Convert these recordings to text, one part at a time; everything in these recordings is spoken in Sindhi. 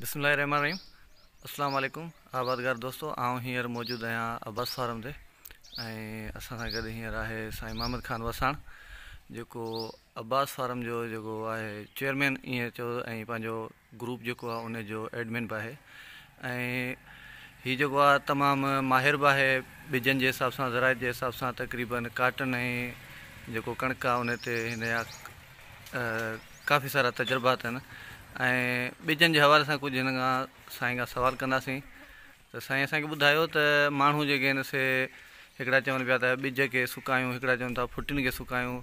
بسم الله الرحمن الرحيم اسلام عليڪم آبادگار دوستو آئون هينئر موجود آهيان عباس فارم تي ۽ اسان سان گڏ هينئر آهي سائين محمد خان وساڻ جيڪو عباس فارم جو جيڪو آهي چيئرمين ائين چيو ۽ پنهنجو گروپ جيڪو آهي ان جو ايڊمن به آهي ۽ هي جيڪو آهي تمام ماهر به آهي ٻجن جي حساب سان زراعت جي حساب سان تقريبن ڪاٽن ۽ جيڪو ڪڻڪ آهي ان تي هن جا ڪافي سارا تجربا اٿن ۽ ٻجن جي حوالي سان ڪجهه هن کان سائين کان سوال ڪنداسين ته سائين اسان کي ٻڌايو ته ماڻهو جيڪي آهن سي هڪڙا چون پيا ته ٻج کي سڪايون هڪڙا چون ٿا ڦٽين کي سڪايون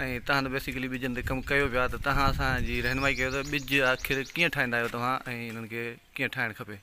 ۽ تهان ته بيسڪلي ٻجن تي ڪم ڪيو پيا ته تهان اسان جي رهنمائي ڪيو ته ٻج آخر ڪيئن ٺاهيندا آهيو توهان ۽ هنن کي ڪيئن ٺاهڻ کپي.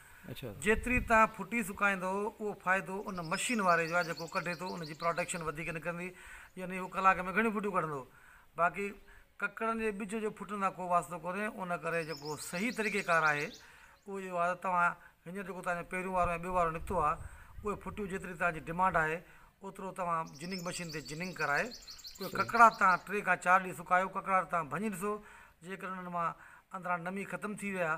جيتري توهان ڦٽي سڪائيندو اهو فائدو ان مشين واري جو آهي جيڪو ڪڍي ٿو ان جي پراڊڪشن وڌيڪ نڪرندي يعني اهو ڪلاڪ ۾ گهڻيون ڦٽيون ڪڍندو باقي ڪڪڙن جي ٻج جو ڦٽن سان ڪو واسطو ڪونهي ان ڪري جيڪو صحيح طريقي ڪار آهي اهو اهو آهي ته توهان هينئر جيڪو توهان جو پهريون وارو ۽ ٻيو وارو نڪتو آهي اهي ڦٽيون جيتري توهان جي ڊمانڊ آهي اوترو توهان جننگ مشين تي جننگ ڪرائي اهي ڪڪڙا توهان ٽي کان چار ڏينهن سڪايو ڪڪڙا توهان ڀڃي ڏسو جيڪڏهن انهن مان اندران نمي ختم ٿي وئي آهي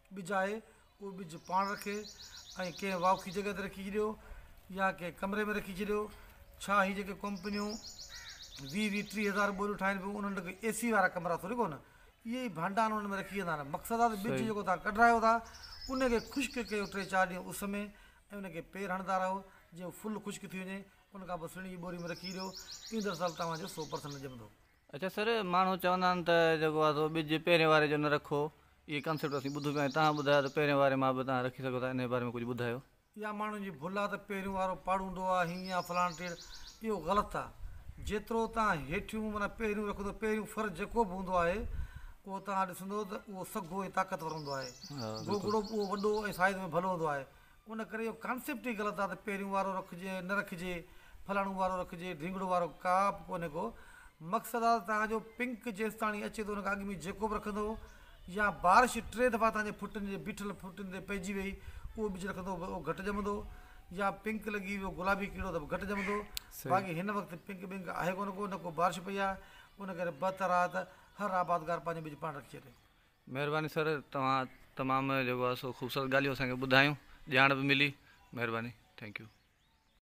ٻج آهي اهو ٻج پاڻ رکي ۽ ڪنهن واکي جڳهه تي رکي ڇڏيو يا ڪنهن ڪمري ۾ رکي ڇڏيو ڇا هي جيڪي ڪمپنيون ويهه ويهه ٽيهه هزار ٻوريون ٺاهين پيون انهن ڏکي اي سي وارا ڪمرا ٿوري ڪونه اهي ئي ڀانڊا انهن ۾ رکي ويندا آهن مقصد آهي ته ٻج جيڪو تان ڪڍرايو ٿا ان کي خشڪ ڪيو ٽي چار ڏينهن اس ۾ ۽ ان کي پير هڻندا رهو جيئن ڦل خشڪ ٿي وڃي ان کان پوء سڻي جي ٻوري ۾ رکي ڇڏيو ايندڙ سال توهان جو سو پرسنٽ ڄمندو اچا سر ماڻهو چوندا آهن ته جيڪو آهي سو ٻج پهرين واري جو نه رکو اهي ڪانسيپٽ اسين ٻڌو پيا آهن تهان ٻڌايو ته پهرين واري مان به تهان رکي سگهو ٿا انهي باري ۾ ڪجهه ٻڌايو. اها ماڻهن جي ڀل آهي ته پهريون وارو پاڙوندو آهي هينئن آهي فلاڻي ٽيڙ اهو غلط آهي جيترو تهان هيٺيون معنيٰ پهريون رکو ٿو پهريون فرض جيڪو به هوندو آهي اهو تهان ڏسندو ته اهو سگهو ۽ طاقتور هوندو آهي گوگڙو به اهو وڏو ۽ سائز ۾ ڀلو هوندو آهي ان ڪري اهو ڪانسيپٽ ئي غلط آهي ته پهريون وارو رکجي ۽ نه رکجي فلاڻو وارو رکجي ڍينگڙو وارو ڪا به ڪونهي ڪو مقصد آهي ته توهان جو پنڪ جيستاڻي اچي ٿو ان کان اڳ ۾ جيڪو به رکندو يا بارش ٽي دفعا توهان جي ڦٽن جي بيٺل ڦٽن تي پئجي وئي اهو ٻج رکندو به اهو گهٽ ڄمندو يا پنڪ لڳي ويو گلابي ڪيڙو ته به گهٽ ڄمندو صحيح باقي هن وقت پنڪ ٻنڪ آهي ڪونه ڪو نه ڪو بارش پئي آهي ان ڪري بهتر آهي ته هر آبادگار پنهنجو ٻج پاڻ رکجي مهرباني سر توهان تمام جيڪو آهي سو خوبصورت ڳالهيون اسان کي ٻڌايون ڄاڻ به ملي مهرباني ٿينڪ يو.